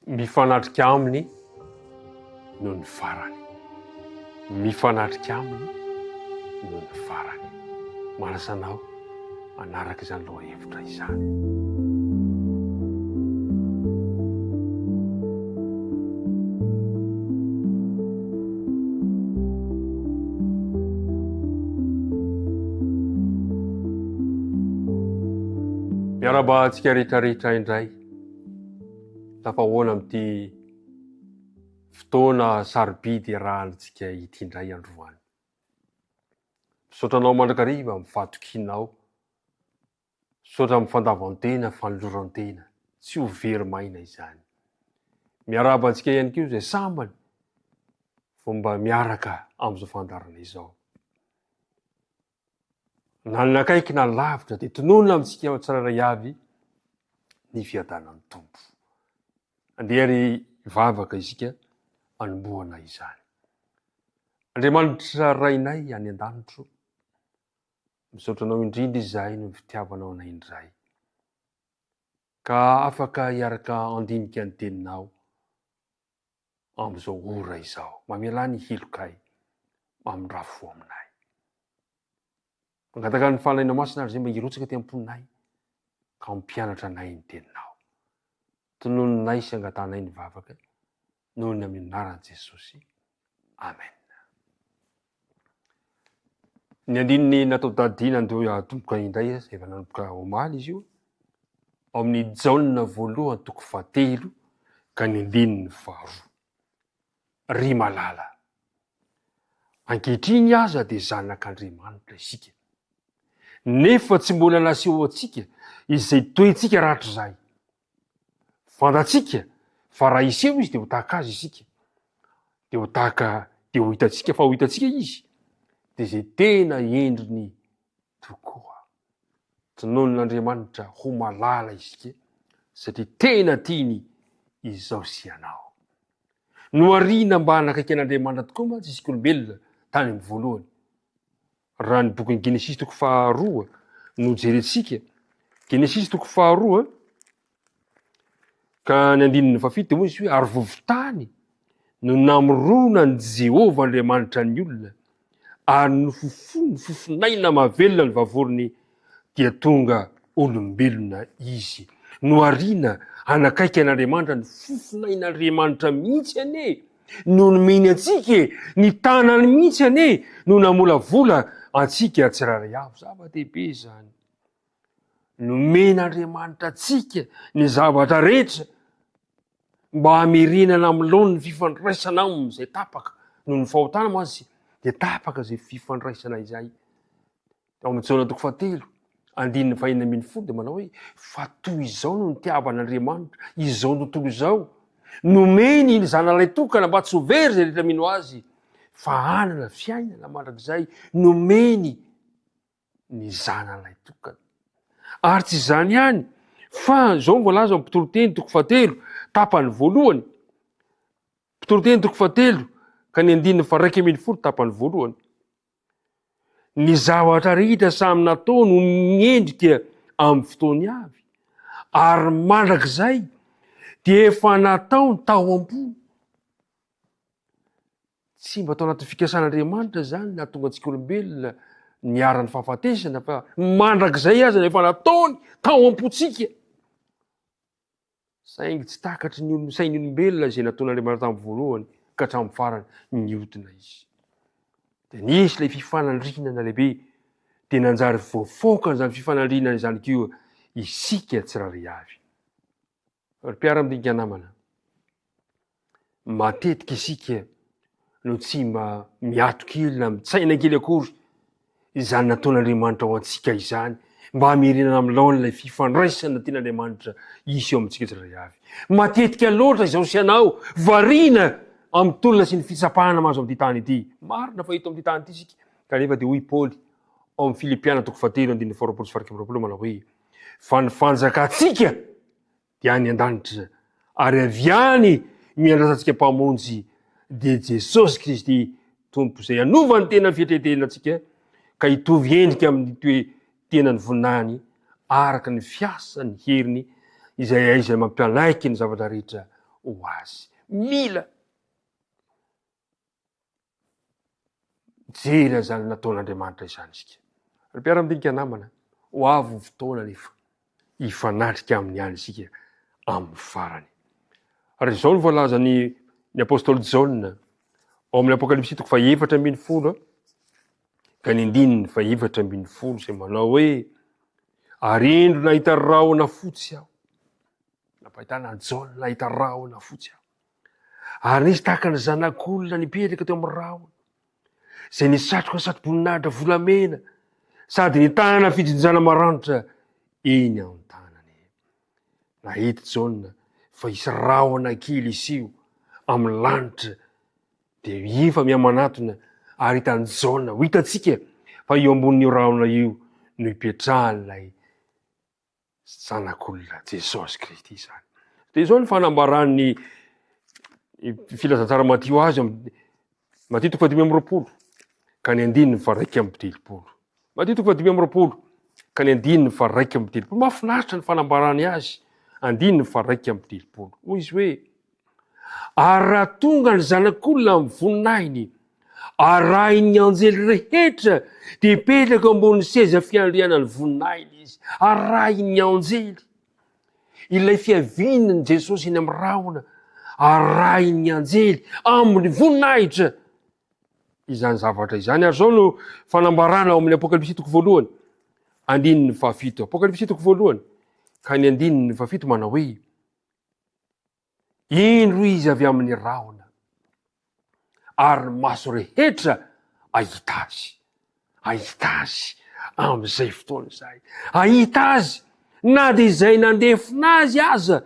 Mifanatrika aminy no ny farany. Mifanatrika aminy no ny farany. Manasa anao hanaraka izany lohahevitra izany. Miarahaba antsika rehetrarehetra indray. Tafahoana amin'ity fotoana sarobidy iarahantsika ity indray androany. Misaotra anao mandrakariva amin'ny fahatokianao. Misaotra amin'ny fandavan-tena, fanoloran-tena. Tsy ho very maina izany. Miarahaba antsika ihany koa izay sambany vao mba miaraka amin'izao fandaharana izao. Na ny nakaiky na ny lavitra dia tononina amintsika ao tsirairay avy ny fiadanan'ny Tompo. Andeha ary hivavaka isika anombohana izany. Andriamanitra Rainay any an-danitro, misaotra anao indrindra izahay noho ny fitiavanao anay indray. Ka afaka hiaraka andinika ny teninao. amin'izao ora izao. Mamelà ny hilokay mamindrafo vao aminay. Mangataka ny fanalina masina ary izay mba hirotsaka aty am-ponay ka hampianatra anay ny teninao. Tononinay sy angatanay ny vavaka noho ny amin'ny anaran'i Jesosy. Amen. Ny andininy natao tadidiana andeha hatomboka indray, efa nanomboka omaly izy io, ao amin'ny Jaona voalohany toko fahatelo ka ny andininy faharoa. Ry malala, ankehitriny aza dia zanak'Andriamanitra isika, nefa tsy mbola nasehoantsika izay toetsika rahatrizay. Fantatsika fa raha hiseho izy dia ho tahaka azy isika. Dia ho tahaka, dia ho hitantsika fa ho hitantsika izy. Dia izay tena endriny tokoa. Tinonin'Andriamanitra ho malala isika satria tena tiany izao sy ianao. Nohariana mba hanakaiky an'Andriamanitra tokoa mantsy isika olombelona tany amin'ny voalohany. Raha ny bokin'ny Genesisy toko faharoa no jerentsika, Genesisy toko faharoa, ka ny andininy fahafito dia hoy izy hoe ary vovon-tany no namorona ny Jehovah Andriamanitra ny olona, ary nofofony fofonaina mahavelona ny vavoriny dia tonga olombelona izy. Nohariana hanakaiky an'Andriamanitra ny fofonain'Andriamanitra mihitsy anie no nomeny antsika e! Ny tanany mihitsy anie no namolavola antsika tsirairay avy. Zava-dehibe izany. Nomen'Andriamanitra antsika ny zavatra rehetra mba hamerenana amin'ny laoniny fifandraisana aminy izay tapaka noho ny fahotana mantsy dia tapaka izay fifandraisana izay. Ao amin'ny Jaona toko fahatelo, andininy fahenina ambin'ny folo dia manao hoe, Fa toy izao no nitiavan'Andriamanitra izao tontolo izao, nomeny ny Zanalay tokana mba tsy ho very izay rehetra mino Azy, fa hanana fiainana mandrakizay, nomeny ny Zanalay tokana. Ary tsy izany ihany, fa izao no voalaza amin'ny mpitoroteny toko fahatelo, tapany voalohany, mpitoroteny toko fahatelo, ka ny andininy faraika ambin'ny folo tapany voalohany. Ny zavatra rehetra samy nataony ho miendrika amin'ny fotoany avy, ary mandrakizay dia efa nataony tao am-po. Tsy mba tao anatin'ny fikasan'Andriamanitra izany nahatonga antsika olombelona niharan'ny fahafatesana, fa mandrakizay aza efa nataony tao am-pontsika. Saingy tsy takatry ny sain'olombelona izay nataon'Andriamanitra tamin'ny voalohany ka hatramin'ny farany nihodina izy. Dia nisy ilay fifanandrinana lehibe, dia nanjary voafaoka an'izany fifanandrinana izany koa isika tsirairay avy. Ry mpiara-mdinika namana, Matetika isika no tsy mba miato kely na mitsaina kely akory izany nataon'Andriamanitra ho antsika izany mba hamerenana amin'ny laoniny ilay fifandraisana tian'Andriamanitra hisy eo amintsika tsirairay avy. Matetika loatra izaho sy ianao variana amin'ny tolona sy ny fitsapana mahazo amin'ity tany ity. Marina fa eto amin'ity tany ity isika, kanefa dia hoy i Paoly ao amin'ny Filipiana toko fahatelo andininy faharoapolo sy faharaika amby roapolo manao hoe, Fa ny fanjakantsika dia any an-danitra, ary avy any no iandrasantsika Mpamonjy, dia Jesosy Kristy Tompo, izay hanova ny tena fietretenantsika ka hitovy endrika amin'ny toe-tenan'ny voninahiny, araka ny fiasan'ny heriny izay hay izay mampianaiky ny zavatra rehetra ho azy. Mila Mijery an'izany nataon'Andriamanitra izany isika. Ry mpiara-madinika namana, ho avy ny fotoana anefa hifanatrika aminy ihany isika amin'ny farany. Ary izao no voalazan'ny ny apostoly Jaona ao amin'ny Apokalypsy toko fahefatra ambin'ny folo ka ny andininy fahefatra ambin'ny folo izay manao hoe ary indro nahita rahona fotsy aho. Nampahitana an'i Jaona nahita rahona fotsy aho. Ary nisy tahaka ny zanak'olona nipetraka teo amin'ny rahona, izay nisatroka satroboninahitra volamena, sady nitana fijinjana maranitra eny an-tanany. Nahita Jaona fa hisy rahona kely hiseho amin'ny lanitra, dia efa mihamanatona ary hitan'i Jaona, ho hitantsika fa eo ambonin'io rahona io no ipetrahan'ilay Zanak'olona, Jesosy Kristy izany. Dia izao ny fanambaran'ny filazantsara Matio azy amin'ny Matio toko fahadimy amby roapolo ka ny andininy fa raika amby telopolo. Matio toko fahadimy amby roapolo ka ny andininy fa raika amby telopolo. Mahafinaritra ny fanambarany azy, andininy fa raika amby telopolo. Hoy izy hoe, Ary raha tonga ny Zanak'olona amin'ny voninahiny, arahin'ny anjely rehetra, dia hipetraka ambonin'ny seza fiandrianan'ny voninahiny izy, arahin'ny anjely. Ilay fiavian'ny Jesosy eny amin'ny rahona, arahin'ny anjely amin'ny voninahitra izany zavatra izany. Ary izao no fanambarana ao amin'ny Apokalypsy toko voalohany, andininy fahafito. Apokalypsy toko voalohany, ka ny andininy fahafito manao hoe, Indro izy avy amin'ny rahona, ary ny maso rehetra ahita azy. Ahita azy amin'izay fotoana izay. Ahita azy na dia izay nandefona azy aza,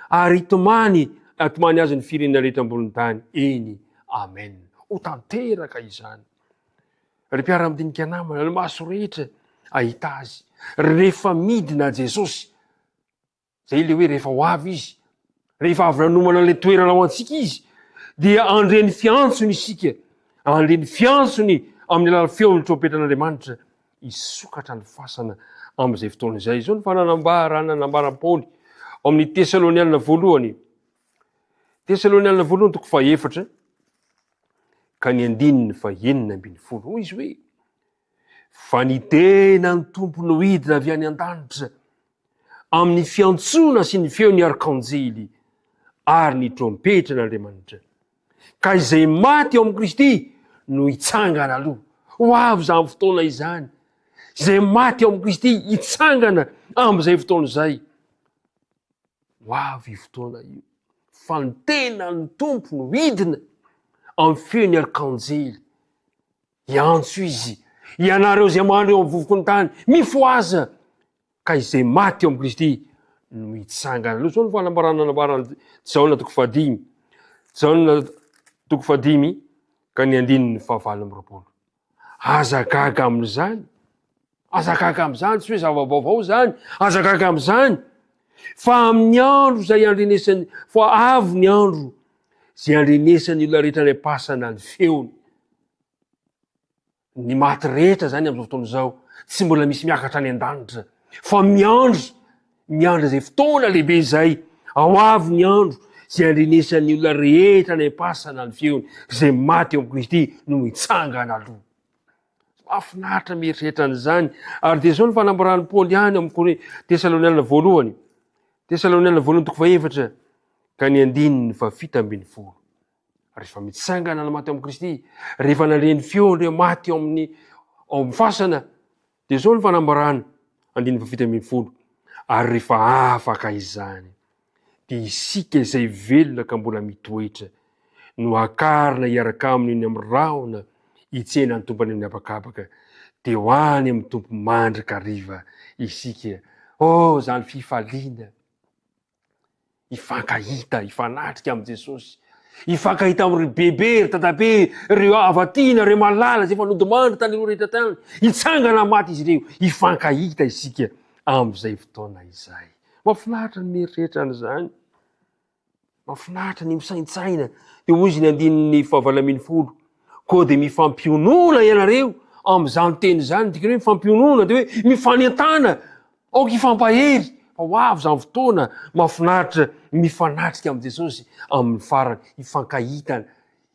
ary hitomany, hatomany azy ny firenena rehetra ambonin'ny tany. Eny, amen. Ho tanteraka izany. Ry mpiara-midinika namana, ny maso rehetra ahita azy. Rehefa midina Jesosy, Izay ilay hoe rehefa ho avy izy, rehefa avy nanomana an'ilay toerana ho antsika izy, dia handre ny fiantsony isika, handre ny fiantsony amin'ny alalan'ny feon'ny trompetan'Andriamanitra, hisokatra ny fasana amin'izay fotoana izay. Izao ny fananambarana nambaran'i Paoly ao amin'ny Tesalonianina voalohany. Tesalonianina voalohany toko fahaefatra ka ny andininy fahenina ambin'ny folo. Hoy izy hoe, fa ny tena ny Tompo nohidina avy any an-danitra amin'ny fiantsoana sy ny feon'ny arkanjely ary ny trompetra an'Andriamanitra. Ka izay maty ao amin'i Kristy no hitsangana aloha. Ho avy izany fotoana izany. Izay maty ao amin'i Kristy hitsangana amin'izay fotoana izay. Ho avy fotoana io. Fa ny tena ny Tompo no hidina amin'ny feon'ny arkanjely Hiantso izy, Ianareo izay mandry eo amin'ny vovoky ny tany, mifohaza! Ka izay maty eo amin'i Kristy no hitsangana. Aloha izao ny fanambarana nambaran'i Jaona toko fahadimy. Jaona toko fahadimy ka ny andininy fahavalo amby roapolo. Aza gaga amin'izany Aza gaga amin'izany, tsy hoe zava-baovao izany, aza gaga amin'izany, fa amin'ny andro izay andrenesan'ny, fa avy ny andro izay andrenesan'ny olona rehetra any am-pasana ny feony. Ny maty rehetra izany amin'izao fotoana izao, tsy mbola misy miakatra any an-danitra, fa miandry, miandry izay fotoana lehibe izay, ao avy ny andro izay andrenesan'ny olona rehetra any am-pasana ny feony, izay maty eo amin'i Kristy no mitsangana aloha. Mahafinaritra mieritreritra an'izany. Ary dia izao ny fanambaran'i Paoly ihany amin'ny Kore, Tesaloniana voalohany. Tesaloniana voalohany toko fahefatra ka ny andininy fa fito ambin'ny folo. Rehefa mitsangana ny maty ao amin'i Kristy, rehefa nandre ny feo ireo maty ao amin'ny ao amin'ny fasana, dia izao ny fanambarana, andininy fa fito ambin'ny folo. Ary rehefa afaka izany. dia isika izay velona ka mbola mitoetra no hakarina hiaraka aminy eny amin'ny rahona hitsena ny tompony amin'ny habakabaka, dia ho any amin'ny Tompo mandrakariva isika. Oh, izany fifaliana! Hifankahita, hifanatrika amin'i Jesosy, hifankahita amin'ny ry bebe, ry dadabe, ry havatiana, ry malala izay efa nodimandry tany aloha rehetra tany, hitsangana maty izy ireo, hifankahita isika amin'izay fotoana izay. Mahafinaritra ny mieritreritra an'izany. Mahafinaritra ny misaintsaina. Dia hoy izy ny andininy fahavalo ambin'ny folo. Koa dia mifampionona ianareo amin'izany teny izany. Dikany hoe mifampionona dia hoe mifanentana. Aoka hifampahery. Fa ho avy izany fotoana mahafinaritra mifanatrika amin'i Jesosy amin'ny farany. Hifankahita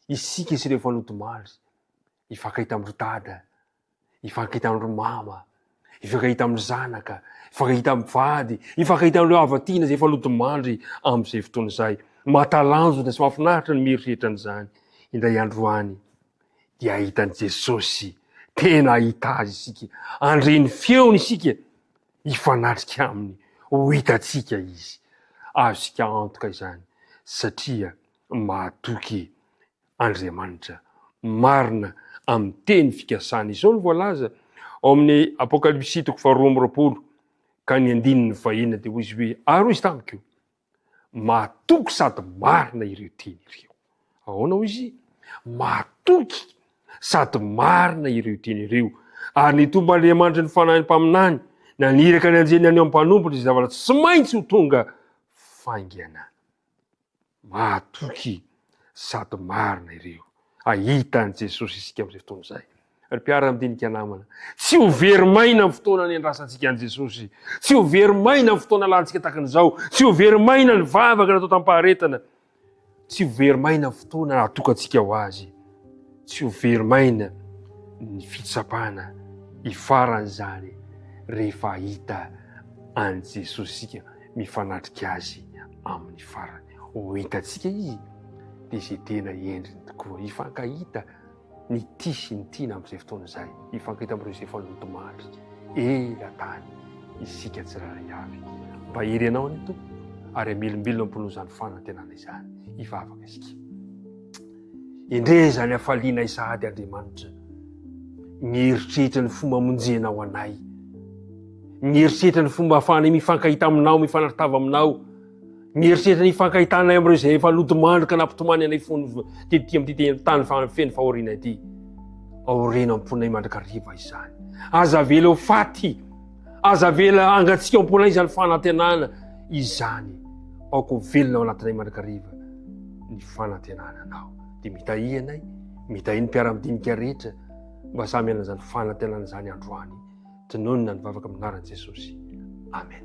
isika sy ireo fanodimandry. Hifankahita amin'i Dada. Hifankahita amin'ireo mama, hifankahita amin'ny zanaka, hifankahita amin'ny vady, hifankahita amin'ireo havatiana izay efa lodimandry amin'izay fotoana izay. Mahatalanjona sy mahafinaritra ny mieritreritra an'izany. Indray andro any dia hahita an'i Jesosy, tena hahita azy isika, handre ny feony isika, hifanatrika aminy, ho hitantsika izy. Azontsika antoka izany satria mahatoky Andriamanitra marina amin'ny teny fikasany. Izao no voalaza ao amin'ny Apokalypsy toko faharoa amby roapolo ka ny andininy fahena dia hoy izy hoe, Ary hoy izy tamiko, Mahatoky sady marina ireo teny ireo. Ahoana hoy izy? Mahatoky sady marina ireo teny ireo. Ary ny Tompon'Andriamanitry ny fanahin'ny mpaminany naniraka ny anjely naneho ny mpanompony izay zavatra tsy maintsy ho tonga faingana. Mahatoky sady marina ireo. Hahita an'i Jesosy isika amin'izay fotoana izay. Ry mpiara-midinika namana, tsy ho very maina amin'ny fotoana niandrasantsika an'i Jesosy. Tsy ho very maina amin'ny fotoana lantsika tahaka an'izao. Tsy ho very maina ny vavaka natao tamim-paharetana. Tsy ho very maina amin'ny fotoana atokantsika ho azy. Tsy ho very maina ny fitsapana hifaran'izany rehefa hahita an'i Jesoa isika mifanatrika Azy amin'ny farany. Ho hitantsika Izy dia izay tena endriny tokoa. Hifankahita ny tia sy ny tiana amin'izay fotoana izay. Hifankahita amin'ireo izay efa nodimandry ela tany isika tsirairay avy. Mba hery Anao anie Tompo ary hamelombelona ampon'izany fanantenana izany hivavaka isika. Endrey izany hafalianay sahady Andriamanitra. Mieritreritra ny fomba amonjenao anay. Mieritreritra ny fomba ahafahanay mifankahita aminao, mifanartava aminao. Mieritreritra ny hifankahitanay amin'ireo izay efa nodimandry ka nampitomany anay fony tetỳ amin'ity tany feno fahoriana ity. Aoriana am-ponay mandrakariva izany. Aza avela ho faty Aza avela hangatsiaka am-pona izany fanantenana izany. Aoko velona ao anatinay mandrakariva ny fanantenana anao. Dia mitahia anay, mitahia ny mpiara-midinika rehetra mba samy anan'izany fanantenana izany androany. Tononina ny vavaka amin'ny anaran'i Jesosy. Amen.